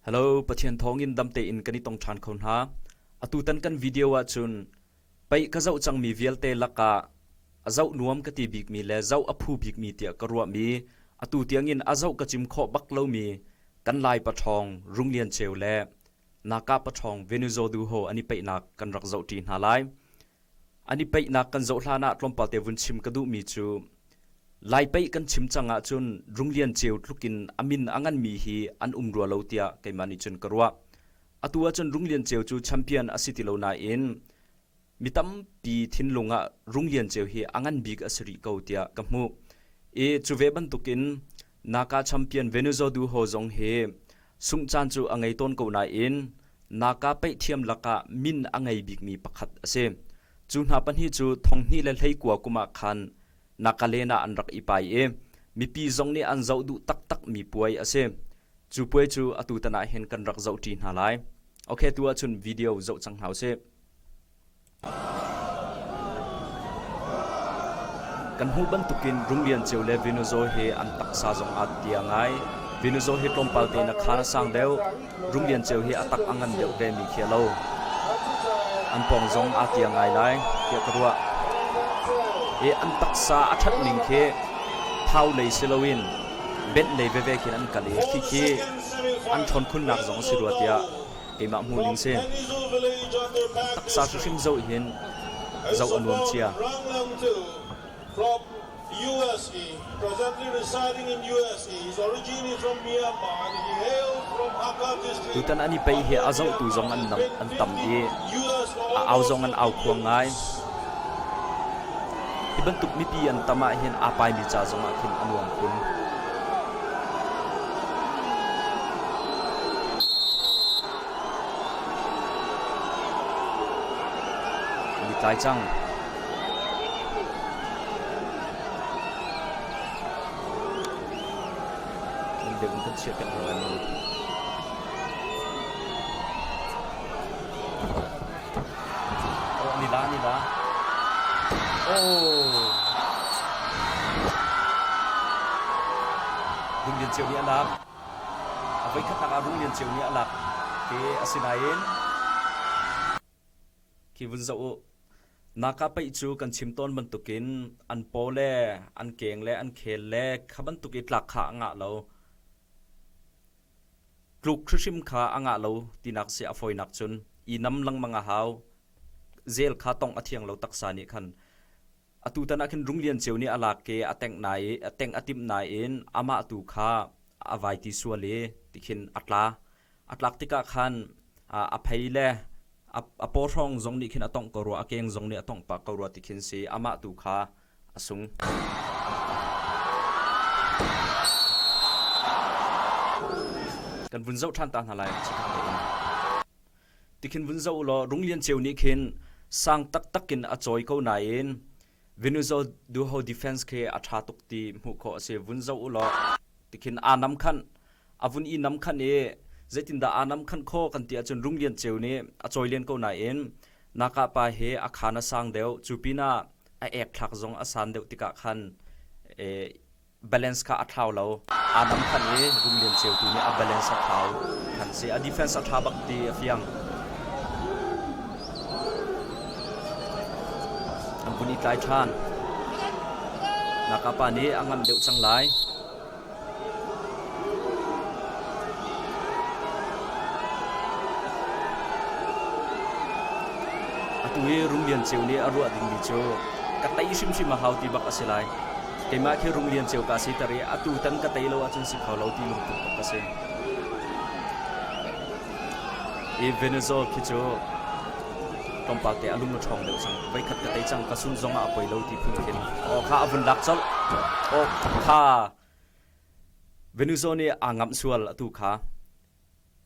Hello, Pathian thawngin dam tein kan i tong ṭhan kho hna. Atutan kan video ahcun pei ka zoh cangmi vialte lakah a zoh nuam ka ti bikmi le zoh a phu bikmi tiah ka ruahmi atu tiangin a zoh ka cim khawh bak lomi kan Lai paṭhawng Rung Lian Ceu le Naka paṭhawng Venuzo Du Ho an i peihnak kan rak zohṭi hna lai. an i peihnak kan zoh hlan ah tlawmpal te vun chim ka duhmi cu lai pei kan chim cang ahcun Runglian ceu tluk in a min a nganmi hi an um rua lo tiah keimah nih cun ka ruah. Atu ahcun Runglian ceu cu champion a si ti lo nain mi tampi thinlung ah Runglian ceu hi a ngan bik a si rih ko tiah ka hmuh i cu ve bantukin Naka champion Venezo duho zong hi sungh caan cu a ngei tawn ko nain Naka peih thiam lakah min a ngei bikmi pakhat a si. Cu hna pahnih cu thonghnih le hleikua kum ah khan Nagaland ah an rak i pai i mipi zong nih an zoh duh taktakmi puai a si. Cu puai cu atutan ah hin kan rak zoh ṭi hna lai. Ok, tu ahcun video zoh cang hna usih. Kan hmuh bantukin Rum Lian Ceu le Venuzaw hi an taksa zong aa tia ngai. Venuzaw hi tlawmpal tein a khaan a sang deuh. Rum Lian Ceu hi a tak a ngan deuh ve mi khi a lo. An pawng zong aa tia ngai lai tiah ka ruah. I an taksa a that ning khi thau lei si loin benh lei veve khin an kal i khi khi an ṭhawn khunnak zong a si rua tiah keimah hmuh ning si. Taksa hrimhrim zoh hin zoh a nuam cia. From USA, presently residing in USA, he's originally from Myanmar and he hailed from Hakha district. Tutan an i pei hi a zohtu zong an nam an tam i a au zong an au khuang ngai. Hi bantuk mipi an tam ahhin aa paimi ca zongah khin a nuam kun. An i tlai cang. Nan biak in kan chiahpiak hna lai maw? Rung Lian Ceu nih a lak. A voikhatnak ah Rung Lian Ceu nih a lak. Hi asinain khi vun zoh u. Naka peih cu kan chim tawn bantukin an paw le an keng le an khel le kha bantuk i tlak kha a ngah lo. Tluk hrihrim kha a ngah lo tinak sia a fawinak cun i nam lengmang a hau. Zel kha tong a thiang lo taksa nih khan. Atutan ah khin Rung Lian Ceu nih a lak ke a tengh nai i a teng a timh nai in amah tu kha a vai ti sual i tikhin a tla. A tlak tikah khan a phei le a paw hrawng zong nih khin a tongh ko rua, a keng zong nih a tongh pah ko rua tikhin si amah tu kha a sung. Kan vun zoh ṭhan ta hna lai chikhat tein. Tikhin vun zoh u law Rung Lian Ceu nih khin sang taktak in a cawi ko nain Venezuela duho defense khi a ṭha tuk ti hmuh khawh a si. Vun zoh u law tikhin aa nam khanh a vun i namkhanh i zeitindah aa namkhanh khawh kan ti ahcun Rung Lian Ceu nih a cawi len ko nain Nakah pa hi a khaan a sang deuh, cu pinah a ek thlak zong a san deuh tikah khan balance kha a thlau lo. Aa namkhanh i Rung Lian Ceu tu nih a balance a thlau than si. A defense a tha bak ti a fiang. An vun i tlai than. Nakah pa nih a ngam deuh cang lai. Atu hi Rum Lian Ceu nih a ruah dingmi cu ka tei hrimhrim a hau ti bak a si lai. Keimah khi Rum Lian Ceu ka si ter i atu tan ka tei lo ahcun si kho lo ti lungput bak ka si. I Venezuela khi cu tlawmpal te a lung a ṭhawng deuh cang. Voikhat ka tei cang, ka sun zong ah a poi lo ti phun khin aw kha a vun lak colh. Aw kha Venuzo nih aa ngamh sual atu kha.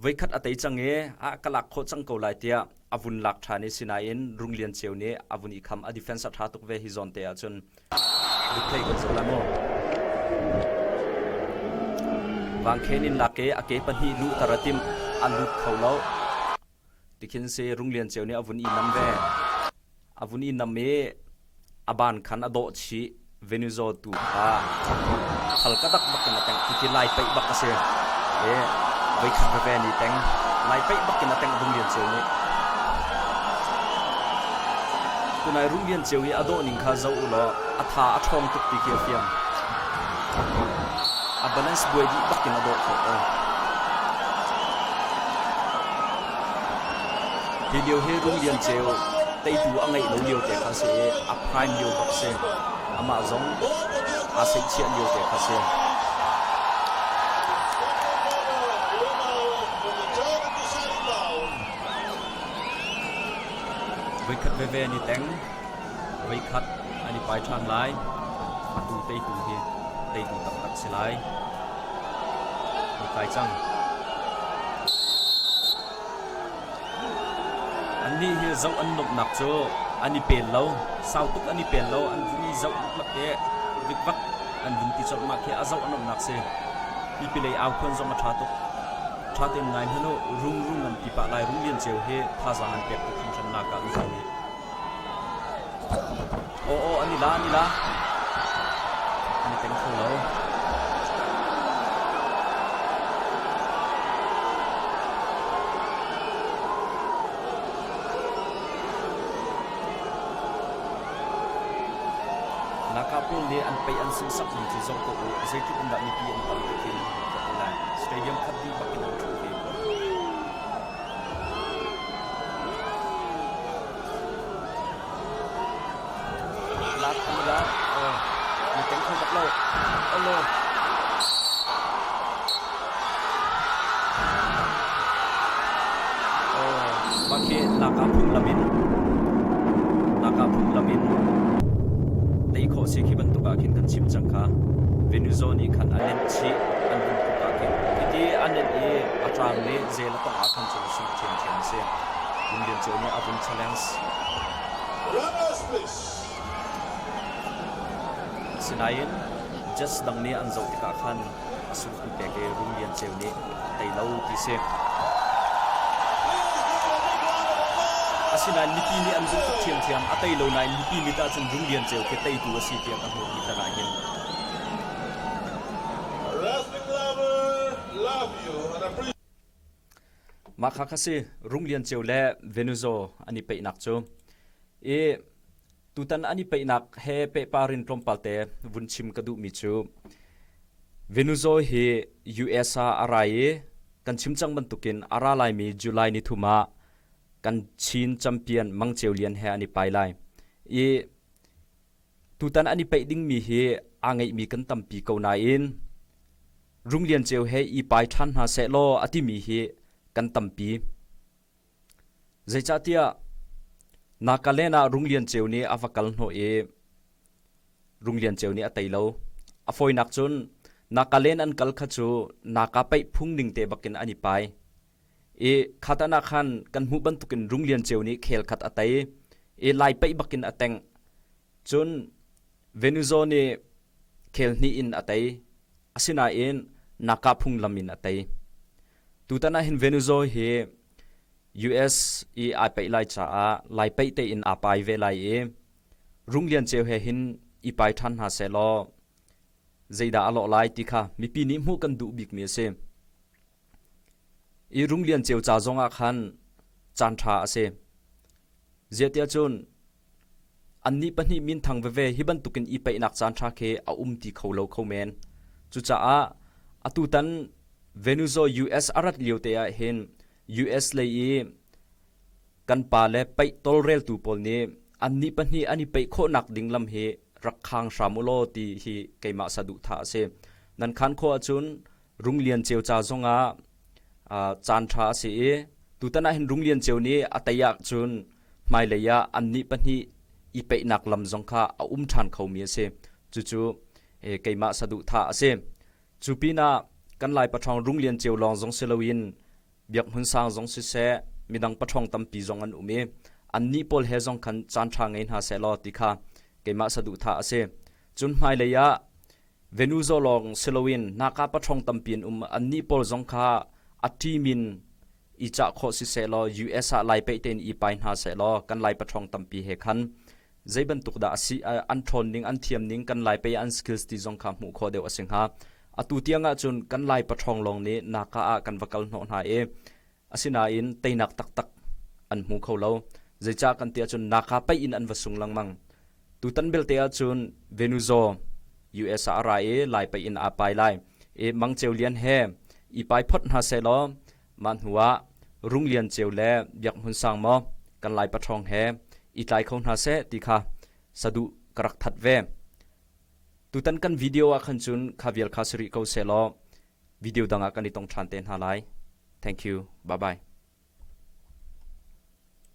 Voikhat a tei cang i a ka lak khawh cang ko lai tiah a vun lak ṭhan i sinain Rung Lian Ceu nih a vun i kham. A defense a ṭha tuk ve hi zawn te ahcun replay kan zoh lai maw? Vangkhen in lak i a ke pahnih luhter a tim. An lut kho lo. Tikhin si Rung Lian Ceu nih a vun i nam ve. A vun i nam i a ban khan a dawh chih. Venuzaw tu kha a khal ka dak bak in a teng. Cuti lai peih bak a si. I voi khat veve ni teng. Lai peih bak in a teng Rung Lian Ceu nih. Tunai Rung Lian Ceu i a dawh ning kha zoh u law a tha a ṭhawng tuk ti khi a fiang. A balance buai dih bak in a dawh khawh ko. Hi lio hi Rum Lian Ceu teitu a ngeih lo lio te kha si i a prime lio bak si. Amah zong aa seihchiah lio te kha si. Voikhat veve ni teng voikhat an i pai ṭhan lai. Atu teitu hi teitu taktak si lai. Ni kai cang. Annih hi zoh an nuamhnak cu an i pel lo. Sau tuk an i pel lo. An vun i zoh mak i vikvak an vun ti colh mah khi a zoh a nuamhnak si. Pipilei au khuan zong a ṭha tuk. Ṭha tein ngai hmanh u. Rung rung an ti pah lai. Rung lian cio hi thazaang an pek tuk hringhran naka an zong nih. Aw, an i la, an i la. An i peng kho lo. Nakapil nih an pei an sunsak ning cu zong tuah u. Zeitluk in dah mipi an tam tuk in ka hmu lai. Stadium khat dih bak in an ṭhu ve ko. laka phunglam in laka phunglam in tei khawh si khi bantuk ah khin kan chim cang kha Venuzo nih khan a nenh chih an hun tuk ah khin hiti a nenh i a ṭang le Zei le panga khan cu lusung a thiamthiam a si. Vung Lian Cio nih a vung challenge. Asinain judge dang nih an zoh tikah khan a suluk an pek i Vung Lian Ceu nih a tei lo ti si. Asinain mipi nih an duh tuk thiamthiam a tei lo nain mipi mit ahcun Vung Lian Ceu khi teitu a si tiah ka hmuh ti tar ahhin Mah kha ka si Rung Lian Ceu le Venuzo an i peihnak cu i tutan an i peihnak he pehpar in tlawmpal te vun chim ka duhmi cu Venuzo hi US ah a ra i kan chim cang bantukin a ra laimi July ni thum ah kan Chin champion Mang Ceu Lian he an i pai lai i tutan an i peih dingmi hi aa ngeihmi kan tampi ko nain Rung Lian Ceu he i pai ṭhan hna seh law a timi hi kan tampi. Zeicahtiah Nagaland ah Rung Lian Ceu nih a va kal hnawh i Rung Lian Ceu nih a tei lo. A fawinak cun Nagaland an kal kha cu Naga paih phung ning te bakin an i pai. i kha tan ah khan kan hmuh bantukin Rung Lian Ceu nih khel khat a tei i lai paih bakin a teng. Cun Venuzo nih khel hnih in a tei. Asinain Naka phunglam in a tei. Tutan ahhin Venuzo hi US i ai paih lai caah lai paih tein aa pai ve lai i Rung Lian Ceu he hin i pai ṭhan hna seh law zeidah a lawh lai ti kha mipi nih hmuh kan duh bikmi a si. I rum lian cio ca zongah khan caan ṭha a si. Ziahtiahcun annih pahnih minthang veve hi bantukin i peihnak caanṭha khi a um ti kho lo kho men. Cucaah atutan Venezuela US a rat liote ah hin US lei i Kan pa le peih tawlreltu pawl nih annih pahnih an i peih khawhnak ding lam hi rak khang hram u law ti hi keimah saduhthah a si. Nan khaan khawh ahcun Rung Lian Ceu ca zongah uh, caanṭha a si i tutan ah hin Rung Lian Ceu nih a tei ahcun hmailei ah annih pahnih i peihnak lam zong kha a um ṭhan khomi a si. Cucu e, keimah saduhthah a si. Cu pinah kan Lai paṭhawng Rung Lian Ceu lawng zong si loin biakhmun sang zong siseh midang paṭhawng tampi zong an um i annih pawl he zong khan caanṭha ngei hna seh law ti kha keimah saduhthah a si. Cun hmailei ah Venuzo lawng si loin naka paṭhawng tampi an um. Annih pawl zong kha a ṭim in i cah khawh siseh law US ah lai pei tein i pai hna seh law kan lai paṭhawng tampi he khan Zeibantuk dah a si an ṭhawn ning, an thiam ning, kan Lai pei ah an skills ti zong kha hmuh khawh deuh a si hnga. Atu tiang ahcun kan Lai paṭhawng lawng nih naka ah kan va kal hnawh hna i asinain teinak taktak an hmu kho lo. Zeicah kan ti ahcun naka paih in an va sung lengmang. Tutan belte ahcun Venuzaw, US ah a ra i Lai paih in aa pai lai i Mang Ceu Lian he i pai phot hna sehlaw Mah hnuah Rung Lian Ceu le Biak Hmun Sang maw kan Lai paṭhawng he i tlai kho hna seh ti kha saduh ka rak that ve. Tutan kan video ah khan cun kha vial kha si rih ko sehlaw video dang ah kan i tong ṭhan te hna lai. Thank you. Bye bye.